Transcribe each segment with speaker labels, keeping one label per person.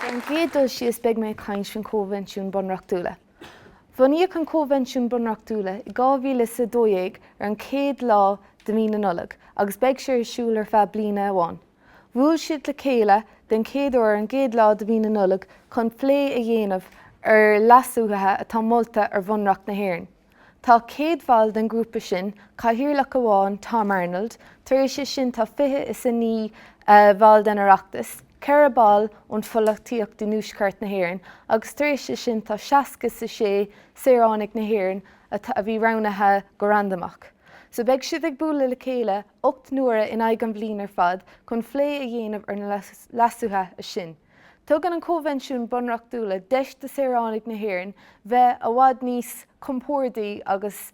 Speaker 1: Ar an gcéad dul síos beidh mé ag caint faoin Choinbhinsiún Bunreachtúla. Bhunaíodh an Coinbhinsiún Bunreachtúla i 2012 ar an chéad lá de mhí na Nollag agus beidh sé ar siúl ar feadh bliana amháin. Bhuail siad le chéile den chéad uair ar an gcéad lá de mhí na Nollag chun plé a dhéanamh ar leasuithe atá molta ar Bhunreacht na hÉireann. Tá 100 bhall den ghrúpa sin, cathaoirleach amháin, Tom Arnold, tar éis é sin tá fiche is a naoi bhall den Oireachtas, ceithre ball ón pholachtaíocht i dtuaisceart na hÉireann agus tar éis é sin tá seasca is a sé saoránaigh na hÉireann a bhí roghnaithe go randamach. So beidh siad ag bualadh le chéile ocht n-uaire in aghaidh an bhliain ar fad chun phlé a dhéanamh ar na leasuithe sin. Tugann an Coinbhinsiún Bunreachtúla deis do shaoránaigh na hÉireann bheith a bhfad níos compórdaí agus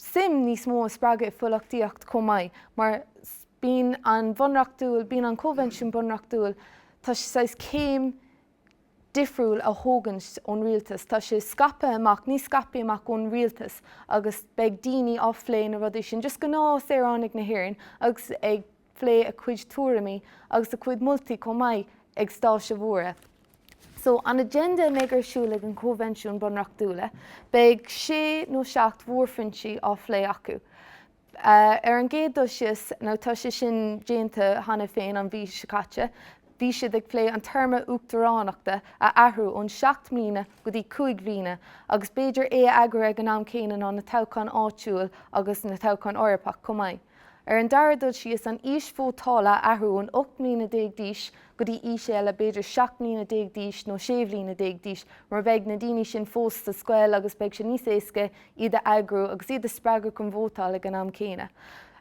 Speaker 1: suim níos mó a spreagadh i pholachtaíocht chomh maith mar bíonn an bhunreachtúil, bíonn an Coinbhinsiún Bunreachtúil, tá sé saghas céim difriúil a thógaint ón rialtas, tá sé scaipthe amach, níos scaipthe amach ón rialtas agus beidh daoine á phlé na rudaí sin, just gnáth saoránaigh na hÉireann agus ag. phlé a cuid tuairimí agus a cuid moltaí chomh maith ag stáitse mhóra So, an agenda a mbeidh ar siúl ag an Choinbhinsiún Bunreachtúla, beidh sé nó seacht mhórphointí á phlé acu. Ar an gcéad dul síos, nó tá sé sin déanta cheana féin an mhí seo caite, bhí siad ag plé an téarma uachtaránachta a athrú ón seacht mbliana go dtí cúig mbliana agus b'fhéidir é a eagrú ag an am céanna ná na toghcháin áitiúil agus na toghcháin Eorpach chomh maith. Ar an dara dul síos, an aois vótála a athrú ón 18 mbliana d'aois go dtí aois eile, b'fhéidir 17 mbliana d'aois nó 16 bhliana d'aois, mar beidh na daoine sin fós sa scoil agus beidh sé níos éasca iad a eagrú agus iad a spreagadh chun vótáil ag an am céanna.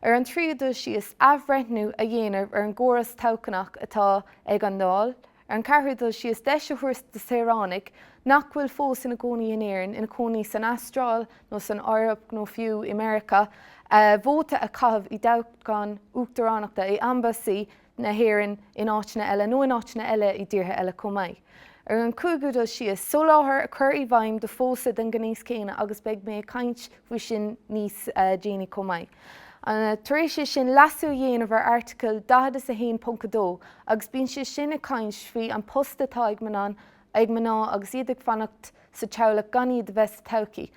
Speaker 1: Ar an tríú dul síos, athbhreithniú a dhéanamh ar an gcóras toghchnach atá ag an Dáil, Ar an ceathrú dul síos, deis a thabhairt do shaoránaigh nach bhfuil fós ina cónaí in Éirinn, ina cónaí san Astráil nó san Eoraip nó fiú i Meiriceá, vóta a chaitheamh i dtoghchán uachtaránachta i ambasáid na hÉireann in áiteanna eile, nó in áiteanna eile i dtíortha eile chomh maith. Ar an cúigiú dul síos, soláthar a chur i bhfeidhm do phósadh den ghnéas céanna agus beidh mé ag caint faoi sin níos déanaí chomh maith. Tar éis é sin leasú a dhéanamh ar Airteagal 41.2 agus bíonn sé sin ag caint faoi an post atá ag mná agus iad ag fanacht sa teaghlach gan iad a bheith sa todhchaí.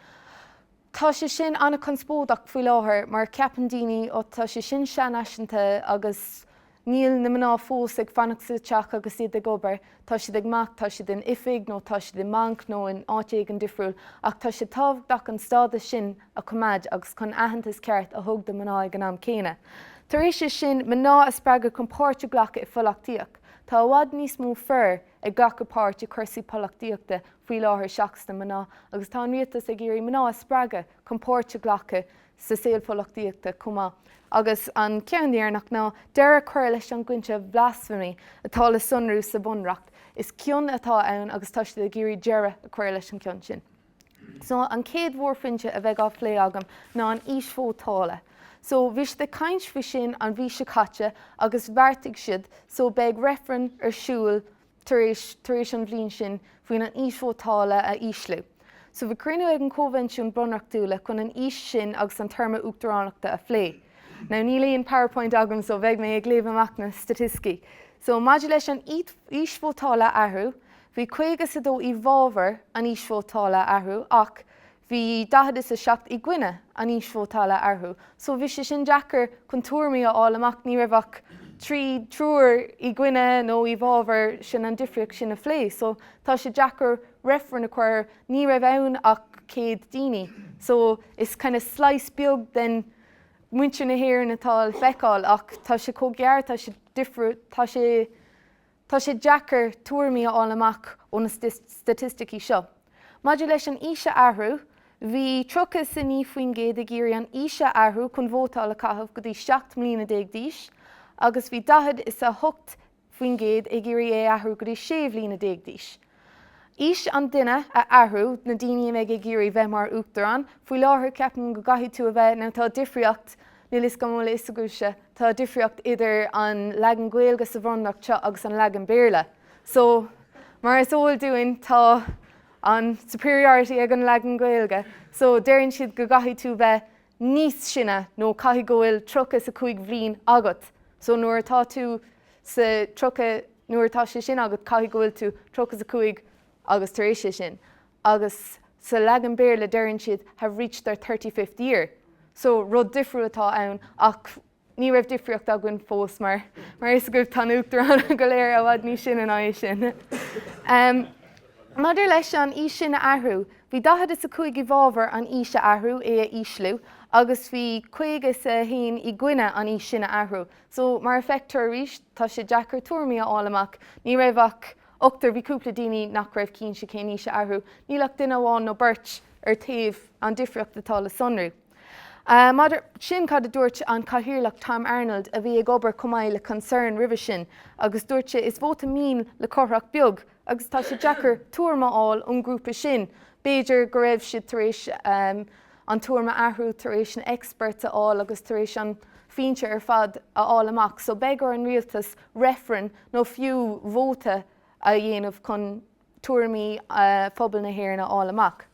Speaker 1: Tá sé sin an-chonspóideach faoi láthair mar ceapann daoine, 'Ó tá sé sin seanfhaiseanta agus Níl na mná fós ag fanacht sa teach agus iad ag obair, tá siad amach, tá siad in oifig nó tá siad i mbanc nó in áit éigin difriúil, ach tá sé tábhachtach an stádas sin a choimeád agus chun aitheantas ceart a thug do mná ag an am céanna. Tar éis é sin, mná a spreagadh chun páirt a ghlacadh i pholaitíocht. Tá i bhfad níos mó fir ag glacadh páirt i cúrsaí polaitíochta faoi láthair seachas na mná, agus tá an rialtas ag iarraidh mná a spreagadh chun páirt a ghlacadh sa saol polaitíochta chomh maith, agus an ceann deireanach ná deireadh a chur leis an gcoincheap 'blasphemy' atá le sonrú sa Bhunreacht. Is cion atá ann agus tá siad ag iarraidh deireadh a chur leis an gcion sin. So, an chéad mhórphointe a bheidh á phlé agam ná an aois vótála. So, bhí siad ag caint faoi sin an mhí seo caite agus bheartaigh siad, so, beidh reifreann ar siúl, tar éis tar éis an bhliain sin faoin an aois vótála a ísliú. So bhí cruinniú ag an Coinbhinsiún Bunreachtúla chun an aois sin agus an téarma uachtaránachta a phlé. Now níl aon powerpoint agam so beidh mé ag léamh amach na staitisticí. So maidir leis an aois vótála a athrú, bhí 52 i bhfabhar an aois vótála a athrú ach Bhí 47 i gcoinne an aois vótála a athrú, so bhí sé sin deacair chun tuairimí a fháil amach, ní raibh ach trí triúr i gcoinne nó i bhfabhar sin an difríocht sin a phlé, so tá sé deacair reifreann a chur, ní raibh ann ach 100 daoine, so is kind of slice beag den muintir na hÉireann atá le feiceáil, ach tá sé chomh gearr, tá sé difriúil, tá sé Tá sé deacair tuairimí a fháil amach ó na staitisticí seo. Maidir leis an aois a athrú, bhí tríocha is a naoi faoin gcéad ag iarraidh an aois a athrú chun vótáil a chaitheamh go dtí seacht mbliana déag d'aois agus bhí daichead is a hocht faoin gcéad ag iarraidh é a athrú go dtí sé bhliana déag d'aois. Aois an duine a athrú, na daoine a mbeidh ag iarraidh bheith mar Uachtarán. Faoi láthair, ceapaim go gcaithfidh tú a bheith, nó tá difríocht, níl 'fhios agam an bhfuil 'fhios agaibhse, tá difríocht idir an leagan Gaeilge sa Bhunreacht seo agus an leagan Béarla. So, mar is eol dúinn, tá an superiority ag an leagan Gaeilge. So, deireann siad go gcaithfidh tú bheith níos sine nó caithfidh go bhfuil tríocha is a cúig bhliain agat so nuair atá tú sa tríocha nuair atá sé sin agat caithfidh go bhfuil tú tríocha is a cúig agus tar éis sé sin agus sa leagan Béarla deireann siad have reached their thirty-fifth year so rud difriúil atá ann ach Ní raibh difríocht againn fós mar, mar is eol daoibh, tá na hUachtaráin go léir i bhfad níos sine ná é sin. Maidir leis an aois sin a athrú, bhí daichead is a cúig i bhfabhar an aois a athrú, é a ísliú, agus bhí caoga is a haon i gcoinne an aois sin a athrú. So, mar a feictear arís, tá sé deacair tuairimí a fháil amach. Ní raibh ach ochtar, bhí cúpla daoine nach raibh cinnte cén aois a athrú. Níl ach duine amháin nó beirt ar taobh an difríocht atá le sonrú. Maidir sin, cad a dúirt an cathaoirleach Tom Arnold, a bhí ag obair chomh maith le Concern roimhe sin, agus dúirt sé, Is vóta mian le tromlach beag, agus tá sé deacair tuairimí a fháil ón ghrúpa sin, b'fhéidir go raibh siad tar éis a dtuairimí a athrú tar éis na experts a fháil agus tar éis na pointí ar fad a fháil amach. So beidh ar an rialtas reifreann nó fiú vóta a dhéanamh chun tuairimí phobal na hÉireann a fháil amach.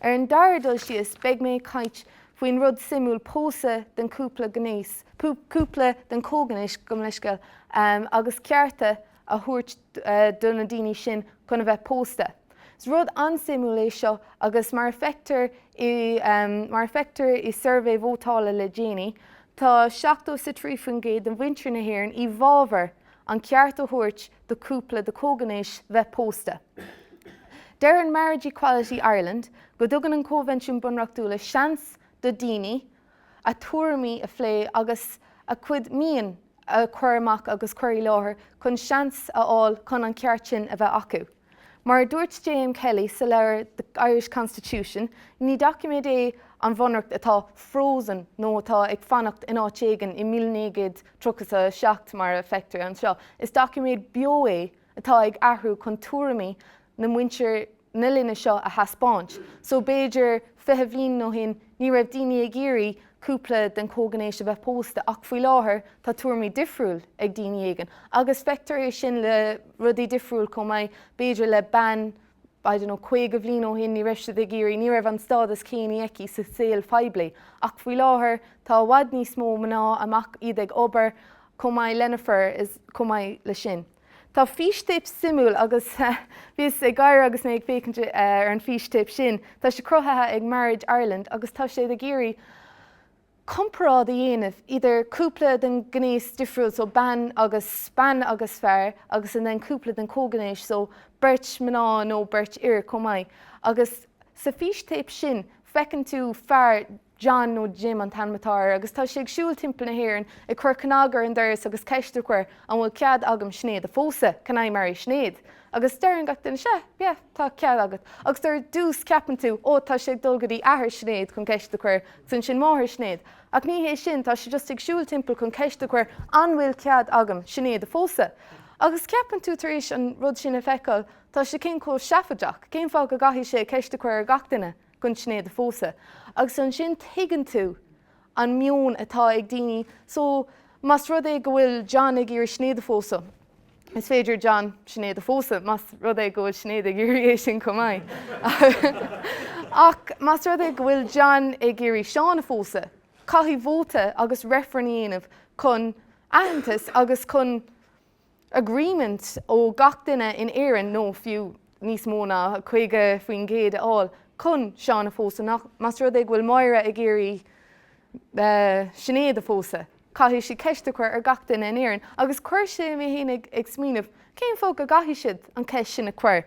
Speaker 1: Ar an dara dul síos, beidh mé ag caint faoin rud suimiúil pósadh den cúpla gnéis, cúpla den chomhghnéis, gabh mo leithscéal, agus cearta a thabhairt do na daoine sin chun a bheith pósta. Is rud an-suimiúil é seo agus mar a feictear, mar a feictear i suirbhé vótála le déanaí, tá 73% de mhuintir na hÉireann i bhfábhar an ceart a thabhairt do cúpla de comhghnéis bheith pósta. Deireann Marriage Equality Ireland go dtugann an Coinbhinsiún Bunreachtúla seans do daoine a dtuairimí a phlé agus a gcuid mian a chur amach agus cur i láthair chun seans a fháil chun an ceart sin a bheith acu. Mar a dúirt JM Kelly sa leabhar The Irish Constitution, ní doiciméad é an bhunreacht atá 'frozen' nó atá ag fanacht in áit éigin i míle naoi gcéad tríocha is a seacht mar a feictear anseo, is doiciméad beo é atá ag athrú chun tuairimí na muintir na linne seo a thaispeáint. So b'fhéidir fiche bhliain ó shin ní raibh daoine ag iarraidh cúpla den chomhghnéis a bheith pósta ach faoi láthair tá tuairimí difriúil ag daoine éigin agus feictear é sin le rudaí difriúil chomh maith, b'fhéidir le bean I don't know 50 bhliain ó shin ní raibh siad ag iarraidh, ní raibh an stádas céanna aici sa saol phoiblí ach faoi láthair tá i bhfad níos mó mná amach, iad ag obair chomh maith leis na fir is chomh maith leis sin. Tá fístéip suimiúil agus bhíos ag gaire agus mé ag féachaint ar an fístéip sin. Tá sé cruthaithe ag Marriage Ireland agus tá siad ag iarraidh comparáid a dhéanamh idir cúpla den ghnéas difriúil, so bean agus bean agus fear agus then cúpla den chomhghnéis, so beirt mná nó beirt fhir chomh maith. Agus sa fístéip sin feiceann tú fear, John, nó Jim an t-ainm atá air, agus tá sé ag siúl timpeall na hÉireann ag cur cnag ar an doras agus ceist a chur, an bhfuil cead agam Sinéad a phósadh? Can I marry Sinead? Agus deireann gach duine, sea, yeah, tá cead agat. Agus ar dtús ceapann tú, ó, tá sé ag dul go dtí athair Shinéad chun ceist a chur, agus ansin máthair Shinéad. Ach ní hé sin, tá sé just ag siúl timpeall chun ceist a chur, an bhfuil cead agam Sinéad a phósadh? Agus ceapann tú tar éis an rud sin a feiceáil, tá sé sin chomh seafaideach, cén fáth go gcaithfidh sé ceist a chur ar gach duine? gan Sinéad a phósadh agus ansin tuigeann tú an meon atá ag daoine so más rud é go bhfuil John ag iarraidh Sinéad a phósadh is féidir John Sinéad a phósadh mas rud é go bhfuil Sinéad ag iarraidh é sin chomh maith ach más rud é go bhfuil John ag iarraidh Seán a phósadh caithfidh vóta agus reifreann a dhéanamh chun aitheantas agus chun agreement ó gach duine in Éirinn, nó fiú níos mó ná 50% a fháil chun Seán a phósadh, ach, más rud é go bhfuil Máire ag iarraidh Sinéad a phósadh, caithfidh sí ceist a chur ar gach duine in Éirinn. Agus chuir sé mé féin ag smaoineamh, cén fáth go gcaithfidh siad an cheist sin a chur?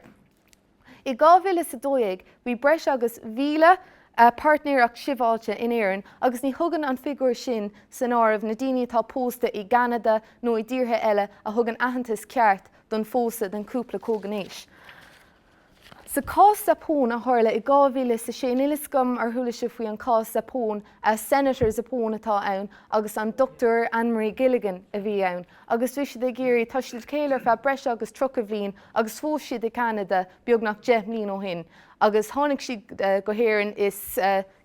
Speaker 1: I 2012 bhí breis agus 1,000 páirtnéireacht shibhialta in Éirinn agus ní thugann an figiúr sin san áireamh na daoine atá pósta i gCeanada nó i dtíortha eile a thugann aitheantas ceart don phósadh den chúpla comhghnéis. Sa cás Zappone a tharla i 2006 níl 'fhios agam ar chuala sibh faoi an cás Zappone, Senator Zappone atá ann agus an Dr Anne-Marie Gilligan a bhí ann agus bhí siad ag iarraidh, tá siad le chéile ar feadh breis agus tríocha bhliain agus phós siad i gCeanada beagnach deich mbliain ó shin agus tháinig siad go hÉirinn is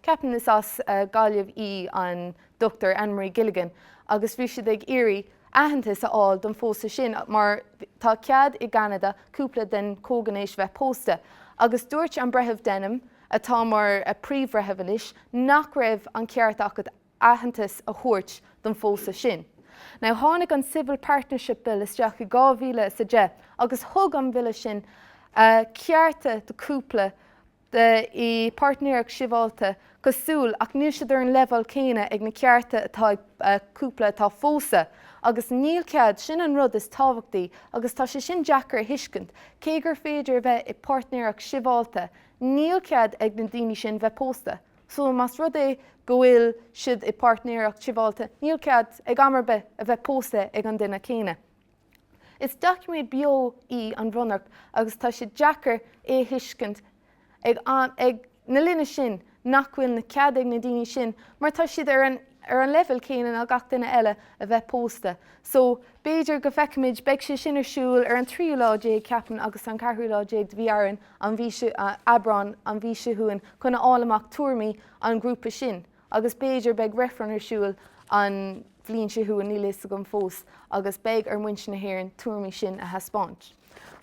Speaker 1: ceapaim is as Gaillimh í an Dr Anne-Marie Gilligan agus bhí siad ag iarraidh aitheantas a fháil don phósadh sin mar tá cead i gCeanada cúpla den chomhghnéis bheith pósta agus dúirt an Breitheamh Denham atá mar príomhbhreitheamh anois, nach raibh an ceart agat aitheantas a thabhairt don phósadh sin. Now tháinig an Civil Partnership Bill isteach i 2010 agus thug an bille sin cearta do chúpla i páirtnéireacht sibhialta cosúil ach níl siad ar an leibheál céanna ag na cearta atá ag cúpla atá pósta agus níl cead, sin an rud is tábhachtaí agus tá sé sin deacair a thuiscint, cé gur féidir a bheith i bpáirtnéireacht sibhialta Níl cead ag na daoine sin bheith pósta. So más rud é go bhfuil siad i bpáirtnéireacht sibhialta, níl cead ag am ar bith a bheith pósta ag an duine céanna. Is doiciméad beo í an Bhunreacht agus tá sé deacair é a thuiscint ag na linne sin, nach bhfuil na cead ag na daoine sin, mar tá siad ar an leibhéal céanna ná gach duine eile, a bheith pósta. So, b'fhéidir go bhfeicfimid, beidh sé sin ar siúl ar an tríú lá déag, ceapaim, agus an ceathrú lá déag de mhí Árainn, an mhí seo, Aibreán an mhí seo chugainn chun a fháil amach tuairimí an ghrúpa sin agus b'fhéidir beidh reifreann ar siúl an bhliain seo chugainn, níl a fhios agam fós, agus beidh ar mhuintir na hÉireann tuairimí sin a thaispeáint.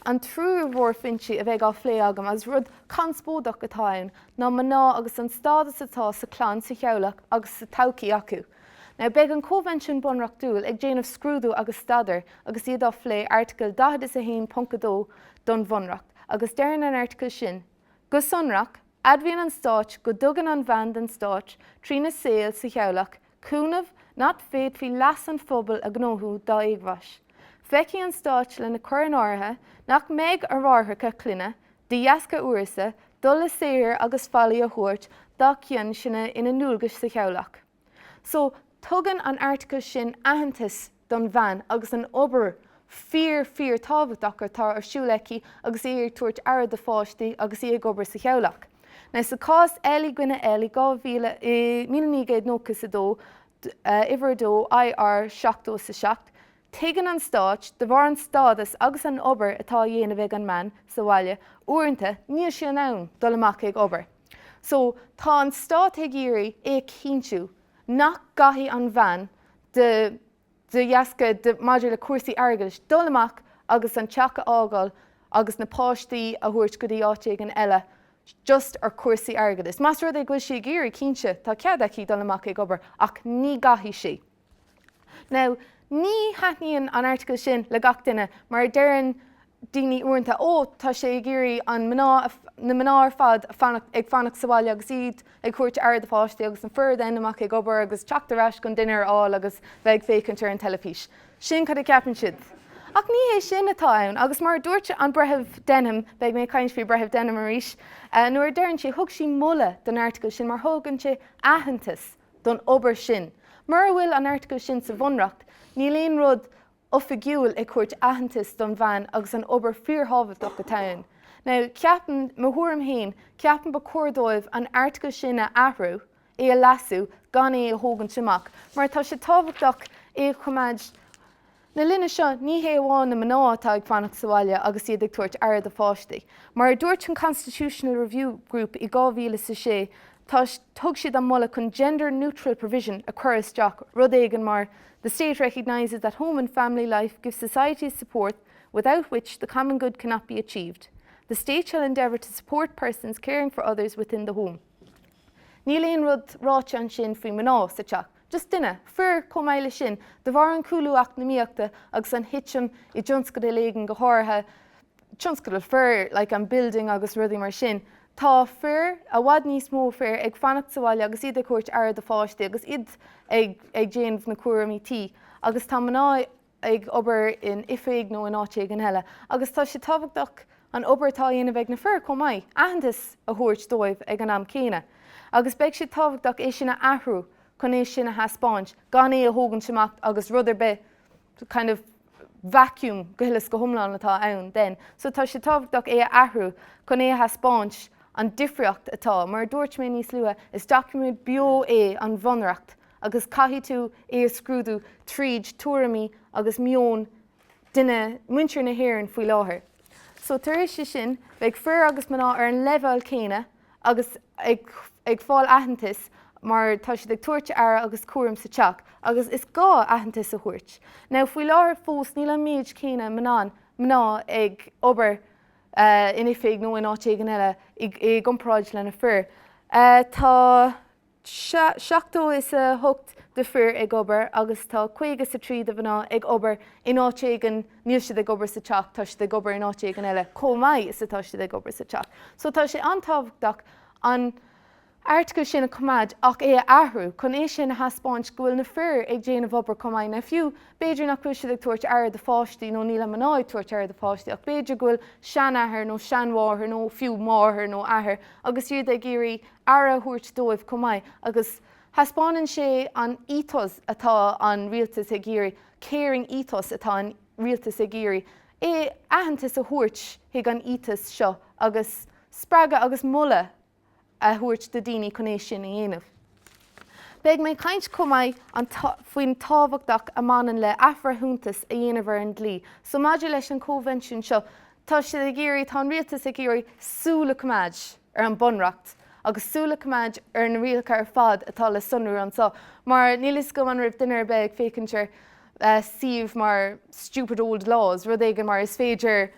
Speaker 1: An tríú mhórphointe a bheidh á phlé agam agus rud conspóideach atá ann ná mná agus an stádas atá sa chlann sa theaghlach agus sa todhchaí acu. Now beidh an Convention Bunreachtúil ag déanamh scrúdú agus staidéar agus iad á phlé Airteagal 41.2 don Bhunreacht. Agus deireann an Airteagal sin, go sonrach, admhaíonn an Stát go dtugann an bhean don Stát, trína saol sa teaghlach, cúnamh nach bhféadfaí leas an phobail a ghnóthú dá éagmhais. Féachfaidh an Stát lena chur in áirithe nach mbeidh ar mháithreacha clainne, de dheasca uireasa, dul le saothar agus faillí a thabhairt dá chionn sin ina ndualgais sa teaghlach. So, tugann an article sin aitheantas don bhean agus an obair fíor fíorthábhachtach atá ar siúl aici agus í ag tabhairt aire do pháistí agus í ag obair sa teaghlach. Now, sa chás L i gcoinne L i dhá mhíle, i míle naoi gcéad nócha is a dó, uimhir a dó, IR seachtó is a seacht, tuigeann an Stát, de bharr an stádas agus an obair atá á dhéanamh ag an mbean sa bhaile, uaireanta, níl sí in ann dul amach ag obair. So, tá an stát ag iarraidh é a chinntiú nach gcaithfidh an bhean de, de dheasca, de, maidir le cúrsaí airgeadais, dul amach agus an teach a fhágáil agus na páistí a thabhairt go dtí áit éigin eile just ar chúrsaí airgeadais. Más rud é go bhfuil sí ag iarraidh, cinnte, tá cead aici dul amach ag obair ach ní gcaithfidh sí. Now, ní thaitníonn an article sin le gach duine, mar deireann daoine uaireanta, ó, tá sé ag iarraidh an mná, na mná ar fad ag fanacht, ag fanacht sa bhaile agus iad ag tabhairt aire do pháistí agus na fir dul amach ag obair agus teacht ar ais chun dinnéar a fháil agus bheith ag féachaint ar an teilifís. Sin cad a cheapann siad. Ach ní hé sin atá ann, agus mar a dúirt an Breitheamh Denham, beidh mé ag caint faoi Breitheamh Denham arís, nuair a deireann sí, thug sí moladh don article sin mar thugann sé aitheantas, don obair sin. Mura bhfuil an airteagal sin sa Bhunreacht, níl aon rud oifigiúil ag tabhairt aitheantas don bhean agus an obair fíorthábhachtach atá ann. Now, ceapaim, mo thuairim fhéin, ceapaim ba chóir dóibh an airteagal sin a athrú, é a leasú, gan é a thógaint amach, mar tá sé tábhachtach é a choimeád. Na linne seo, ní hé amháin na mná atá ag fanacht sa bhaile agus iad ag tabhairt aire do pháistí. Mar a dúirt an Constitutional Review Group i 2006, tá, thug siad an moladh chun gender neutral provision a chur isteach, rud éigin mar the state recognises that home and family life give society support without which the common good cannot be achieved. The state shall endeavour to support persons caring for others within the home. Níl aon rud ráite ansin faoi mná sa teach, just duine, fir chomh maith leis sin, de bharr an chúlú eacnamaíochta agus an thitim i dtionscal éigin go háirithe tionscal fir like an building agus rudaí mar sin, tá fir, i bhfad níos mó fir ag fanacht sa bhaile agus iad ag thabhairt aire do pháistí agus iad ag ag déanamh na cúraimí tí agus tá mná ag ag obair in oifig nó in áit éigin eile, agus tá sé tábhachtach an obair atá á dhéanamh ag na fir chomh maith, aitheantas a thabhairt dóibh ag an am céanna. Agus beidh sé tábhachtach é sin a athrú chun é sin a thaispeáint, gan é a thógaint amach agus rud ar bith kind of vacuum go huile is go hiomlán atá ann then. So tá sé tábhachtach é a athrú chun é a thaispeáint an difríocht atá. Mar a dúirt mé níos luaithe, is document beo é an bhunreacht, agus caithfidh tú é a scrúdú tríd tuairimí agus meon duine, muintir na hÉireann faoi láthair. So tar éis sin, beidh fir agus mná ar an leibheál céanna agus ag ag fáil aitheantas mar tá siad ag tabhairt aire agus cúram sa teach agus is gá aitheantas a thabhairt. Now faoi láthair fós níl an méid céanna mnan, mná ag obair in oifig nó in áit éigin eile i i gcomparáid le na fir. Tá. seachtó is a hocht de fir ag obair agus tá caoga is a trí de mhná ag obair in áit éigin, níl siad ag obair sa teach, tá siad ag obair in áit éigin eile chomh maith is atá siad ag obair sa teach. So tá sé an-tábhachtach an Article sin a choimeád ach é a athrú chun é sin a thaispeáint go bhfuil na fir ag déanamh obair chomh maith. Now fiú b'fhéidir nach bhfuil siad ag tabhairt aire do pháistí nó níl an mná ag tabhairt aire do pháistí ach b'fhéidir go bhfuil seanathair nó seanmháthair nó fiú máthair nó athair agus iad ag iarraidh aire a thabhairt dóibh chomh maith agus thaispeánann sé an ethos atá an rialtas ag iarraidh, caring ethos atá an rialtas ag iarraidh é aitheantas a thabhairt chuig an ethos seo agus spreagadh agus moladh a thabhairt do daoine chun é sin a dhéanamh. Beidh mé ag caint chomh maith faoin tábhachtach a mbaineann le athbhreithiúntas a dhéanamh ar an dlí. So maidir leis an convention seo, tá siad ag iarraidh, tá an rialtas ag iarraidh súil a choimeád, ar an Bunreacht agus súil a choimeád ar na rialacha ar fad atá le sonrú anso, mar níl fhios agam an raibh duine ar bith ag féachaint ar suíomh mar stupid old laws, rud éigin mar is féidir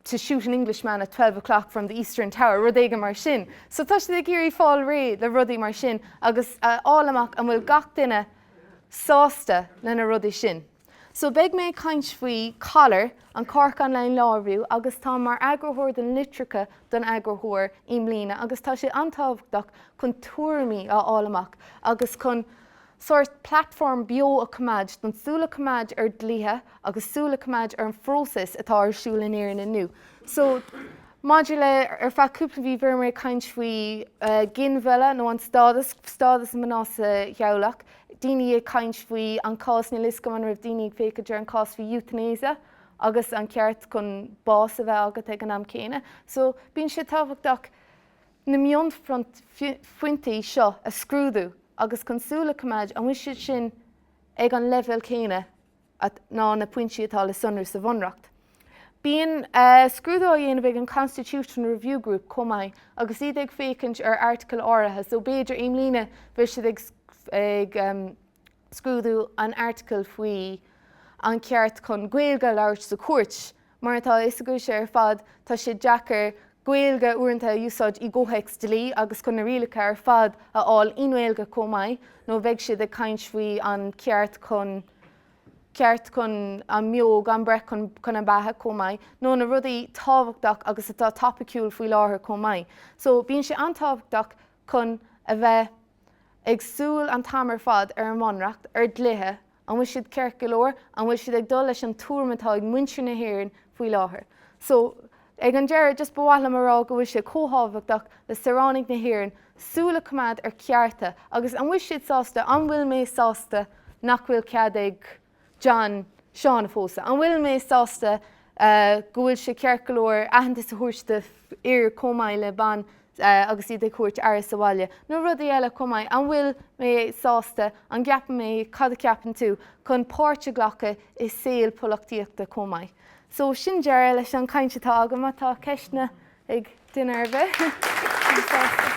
Speaker 1: to shoot an Englishman at twelve o'clock from the eastern tower, rud éigin mar sin. So tá siad ag iarraidh fáil réidh le rudaí mar sin agus a fháil amach an bhfuil gach duine sásta le na rudaí sin. So beidh mé ag caint faoi COLR, an Cork Online Law Review agus táim mar eagarthóir don litreacha don eagarthóir i mbliana agus tá sé an-tábhachtach chun tuairimí a fháil amach agus chun sórt platform beo a choimeád don súil a choimeád ar dlíthe agus súil a choimeád ar an phróiseas atá ar siúl in Éirinn inniu. So maidir le ar feadh cúpla mhí b'fhéidir ag caint faoi ginmhilleadh nó an stádas stádas mná sa theaghlach daoine ag caint faoi an cás, níl a fhios agam an raibh daoine ag féachaint ar an cás faoin euthanasia agus an ceart chun bás a bheith agat ag an am céanna. So bíonn sé tábhachtach na mionphointí seo a scrúdú agus chun súil a choimeád an bhfuil siad sin ag an leibhéal céanna. nó na pointí atá le sonrú sa Bhunreacht. Bíonn scrúdú á dhéanamh ag an Constitution Review Group chomh maith agus iad ag féachaint ar airteagal áirithe so b'fhéidir i mbliana bheidh siad ag scrúdú an airteagal faoi an cheart chun Gaeilge a labhairt sa chúirt. Mar atá a fhios agaibhse ar fad, tá sé deacair Gaeilge uaireanta a úsáid i gcomhthéacs dlí agus chun na rialacha ar fad a fháil i nGaeilge chomh maith nó bheidh siad ag caint faoi an ceart chun ceart chun an mbeo gan breith chun an beatha chomh maith nó na rudaí tábhachtach agus atá topaiciúil faoi láthair chomh maith. So bíonn sé an-tábhachtach chun a bheith ag súil an t-am ar fad ar an mBunreacht, ar dhlíthe, An bhfuil siad ceart go leor? An bhfuil siad ag dul leis an tuairim atá ag muintir na hÉireann faoi láthair? So, ag an deireadh, just ba mhaith liom a rá go bhfuil sé chomh thábhachtach le saoránaigh na hÉireann súil a choimeád ar chearta agus an bhfuil siad sásta, an bhfuil mé sásta nach bhfuil cead ag John Seán a phósadh? An bhfuil mé sásta go bhfuil sé ceart go leor aitheantas a thabhairt d'fhear chomh maith le bean agus iad ag thabhairt aire sa bhaile, nó rudaí eile chomh maith, an bhfuil mé sásta, an gceapann mé cad a cheapann tú, chun páirt a ghlacadh i saol polachtaíochta chomh maith. So, sin deireadh leis an caint atá agam, má tá ceisteanna ag duine ar bith, bím sásta.